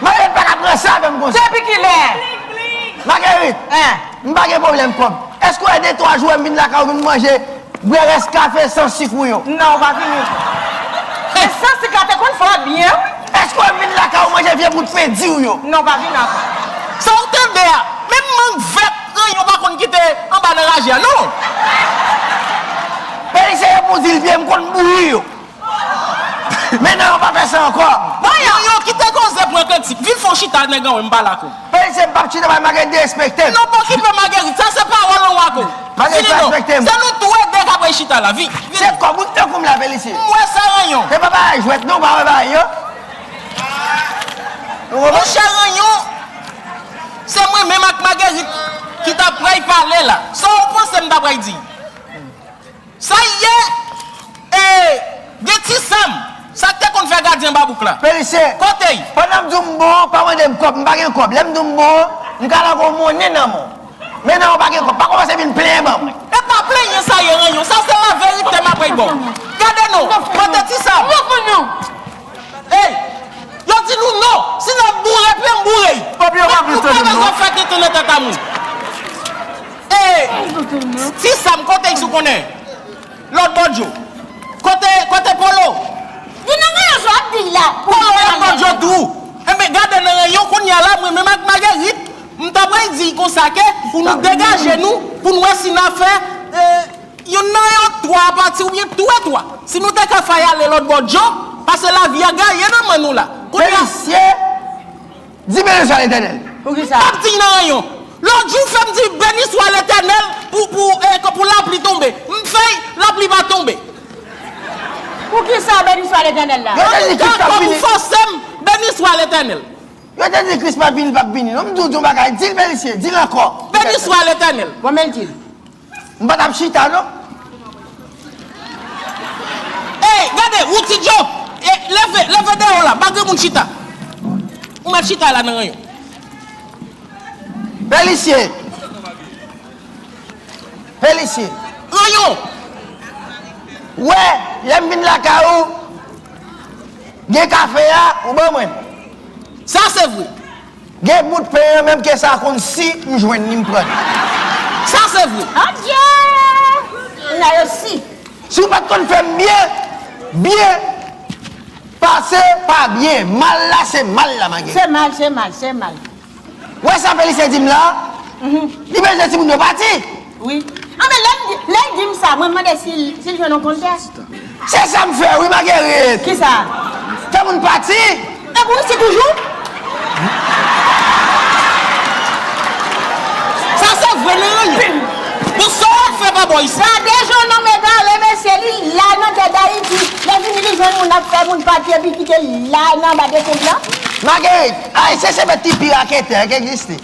Marguerite pa ka pran sa avè m konsa. Depi kilè? Marguerite, m pa gen pwoblèm kòb. Èske w wè de twa jou wè m vin lakay ou vin manje bwè rès kafe san sik ou yo? Non, ou pa vini. Men san sik la te konn fè w byen wi. Èske w wè m vin lakay ou manje vye bout pen di ou yo? Non, ou pa vini ankò. Sa ou tande a? Menm mang vèt ranyon pa konn kite anba nan raje a non! Belize gen pou di l vye, m konn bouyi yo. Men nan yo pa fè sa ankò. Bon yo yo kite koze pran kantik vin fon chita nèg anwe m pa la kou. Pèl se bab chita bay Marguerite derespekte. Non pa okipe Marguerite sa se pawòl anwe a kou. Vini non se nou tou e 2 kap rechita la vini. Se kò moun tankou m la vle li siye. M wè sa ranyon. Se pa bagay jwèt non pa wè bagay yo. Monchè ranyon se mwen menm ak Marguerite ki ta pray pale la sa ou panse m ta pray di. Sa y ye ee gen ti sam. Sak te konn fè gadyen babouk la Perise, kote y. Pandan m di w m bon an, pa mande m kòb, m pa gen kòb. Lè m di w m bon an, m ka lage w monnen nan men w. Men nan w pa gen kòb. Pa kòmanse vin plenyen ban mwen. E pa plenyen sa ye ranyon. Sa se laverite m apèy ba w. Gade non, kote ti sam. Hey! Yo di nou non! Si n ap boure pye m boure y! Pèp yo pa vle tande m non! Pou kòmè zafè tenten nan tèt a moun? E Ti Sam kote y sou konnen? Lòt bò djo? Kote, kote Polo? Li nan rayon djo ap di y la! Polo lòt bò djo tou! Enben gade nan rayon kounye a la mwen menm ak Magerit m ta pral di y konsa ke pou nou degaje nou pou n wè si n a fè e. Youn nan yo, twa pati oubyen tou e twa. Si nou te ka fay ale lòt bò djo, pase lavi a gaye nan men nou la. Kounye a. Felisye, di Beniswa Letènèl. Pou ki sa? M pap di nan anyon. Lòt jou fè m di Beniswa Letènèl pou pou e k pou lapli tonbe. M fèy, lapli pa tonbe. Pou ki sa Beniswa Letènèl la? Yo te di Kris pap vini. Pou fòse m Beniswa Letènèl. Yo te di Kris pap vini, l pap vini non. M di w di yon bagay, di l Belisye, di l ankò. Beniswa Letènèl. Bon men l di l. M pa tap chita non. Ey gade wou ti djo leve leve deyo la pa gen moun chita ou met chita la nan ranyon. Pelisye pelisye. Ranyon. Wè lèm vin lakay ou gen kafe a ou ban mwen. Sa se vre. Gen bout pen an menm ke sa konn si m jwenn li m pran li. Sa se vre. Adjee! Kounya yo si. Si w pat konn fè m byen, byen pase pa byen, mal la se mal la ma geri. Se mal, se mal, se mal. Wè sa Felice di m la? Li bezwen timoun yo pati! wi. Anben lè li lè li dim sa mwen mande si si li jwenn yon konte. Se sam fè wi Marguerite. Kisa? Fè moun pati. Ep ou isi toujou? Sa se vre nan anpil. Bon sa wap fè pa bon isit. Gade jan nonm egare mesye li la nan tè dayiti lè vini li jwenn moun ap fè moun pati epi kite la nan anba de tente lan. Marguerite, Ayisyen se pèp ki pi raketè ki egziste.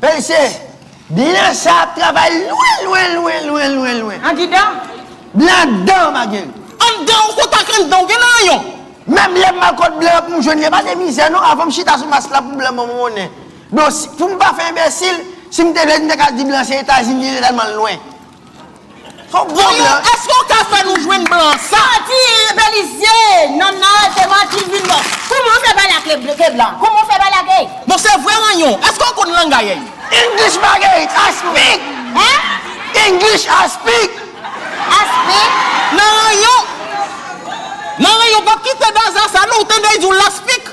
Pèlise, Blan sa ap travay lwen, lwen, lwen, lwen, lwen, lwen. Angidan, Blan dan magen. Anndan ou kontak anndan ou gen nan yon. Menm lè m al kot blan pou m jwenn li pa de mizè non avan m chita sou mas la pou blan ban m monnen. Don si, pou m pa fè enbesil, si m te vle m te ka di blan se Etazini li lè tèlman l lwen. Voyou eske ou ka fè nou jwenn blan sa. Manti belize nan nal se manti li vin bon kouman ou fè pale ak le bleu ke blan kouman ou fè pale ak ey. Bon se vre ranyon eske ou konn langay ey. English Marguerite I speak English I speak. I speak nan ranyon. Nan ranyon pap kite daza sa non ou tande li di w la speak.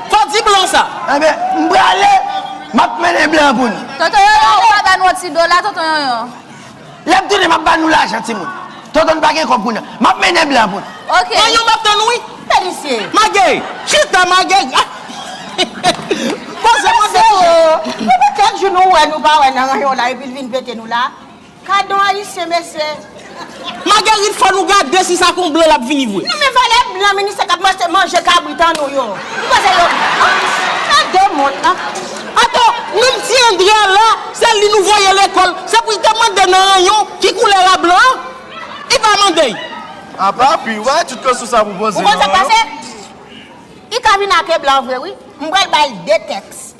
Fò di blan sa. Anben, m prale, m ap mennen blan pou nou. Tonton Yonyon, ou pa ba nou yon ti dola, Tonton Yonyon? Lè m tounen, m ap ba nou lajan, timoun. Tonton n pa gen kòb pou nou. M ap mennen blan pou nou. Ok. Yonyon, m ap tann ou wi. Fè misye. Magey, chita Magey. Bon, se mwen ki. Mesye o, sa fè kèk jou nou wè nou pa wè nan ranyon la epi l vin pete nou la. Gadon ayisyen mesye. Magerit fò nou gade si sa kon blan lap vini vre. Nan men valè blan ministè kap mache manje kabrit an nou yo ki koze yo nan de mond la. Ato menm ti André a la se li nou voye lekol se pou li te mande nan ranyon ki koulè ra blan an li pa mandey. Apa pu y wè tut koson sa pou poze nan ranyon. Ou konn sak pase? Li ka vin ake blan vre wi. M pral bal 2 tèks.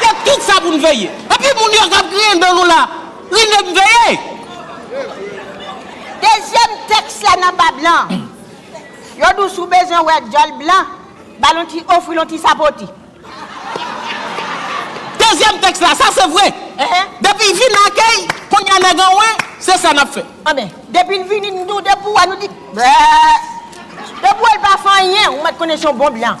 Se tout sa pou n veye. Epi moun yo k ap griyen dan nou la, li menm m veye. Dezyèm tèks la nan Bab lan. Yo di w si w bezwen wè djòl blan, ba l yon ti ofri l yon ti sapoti. Dezyèm tèks la, sa se vre. Depi y vin akèy, kounye a nèg anwe, se sa n ap fè. Anben, depi l vini n doude pou wè, nou di, Bèèè! Depi w wè l pa fè anyen, ou mèt konnen se yon bon blan.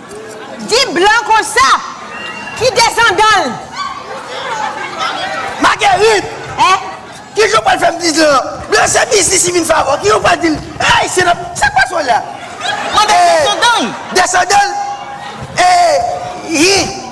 Di blan konsa ki desandan l. Magerit! Eh! Ki jan w pral fè m di blan? Blan se biznis li vin fè avè w. Ki jan w pral di l, Hey! Se nan. Sa k pase w la? Mwen gen desandan l. Desandan l? Eh! Hi!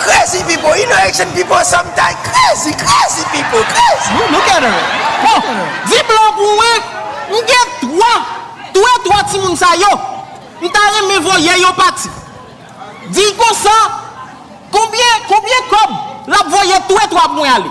Crazy pipo ino action pipo some time crazy crazy pipo crazy. Look at her bon di blan pou mwen m gen 3 twe 3 timoun sa yo m ta renmen voye yo pati di konsa konbyen konbyen kob lap voye twe 3 pou mwen ale.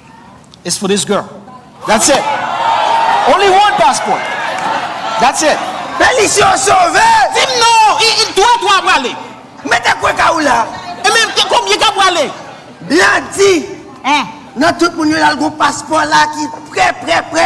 is for this girl that's it only one passport that's it Belice yo sove! Dim non, i dwe 3 ap prale. Mete kwe ka ou la. E men konbyen kap prale? Blandy, nan tout moun yo lal gon paspò la ki prè prè prè.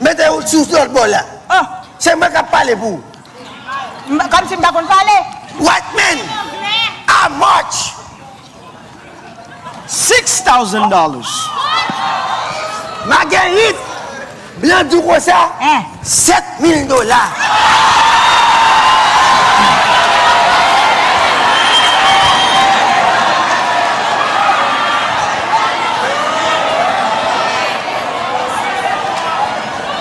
Mete ou sou lòt bò la. Oh. Se mwen kap pale pou ou. M kòmsi m pa konn pale. White men a march. Six thousand dollars. Magerit, blan di w konsa, sèt mil dola.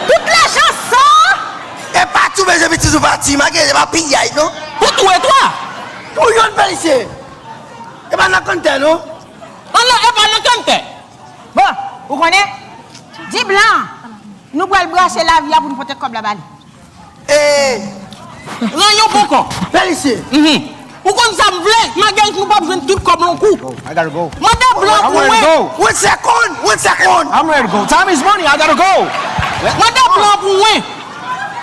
Tout lajan saa. Epa tou bezwen vin toujou pati malgre se pa piyay non. Pou tou e twa. Pou yonn felisye. Epa nan kanntè non. An nan epa nan kanntè. Bon ou konnen. Di blan an. Nou pral brase lavi a pou nou pote kob la ba li. Eeh pran yon bon kò Félicie uhmm ou konn sa m vle Maguel nou pap jwenn tout kòb lon kou Mande blan pou mwen One second one second I'm ready to go Time is money I gotta go Mande blan pou mwen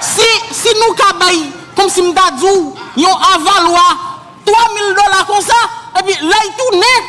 Si si nou ka bay kòmsi m ta di w yon avalwa 3 mil dola konsa epi lè y tounen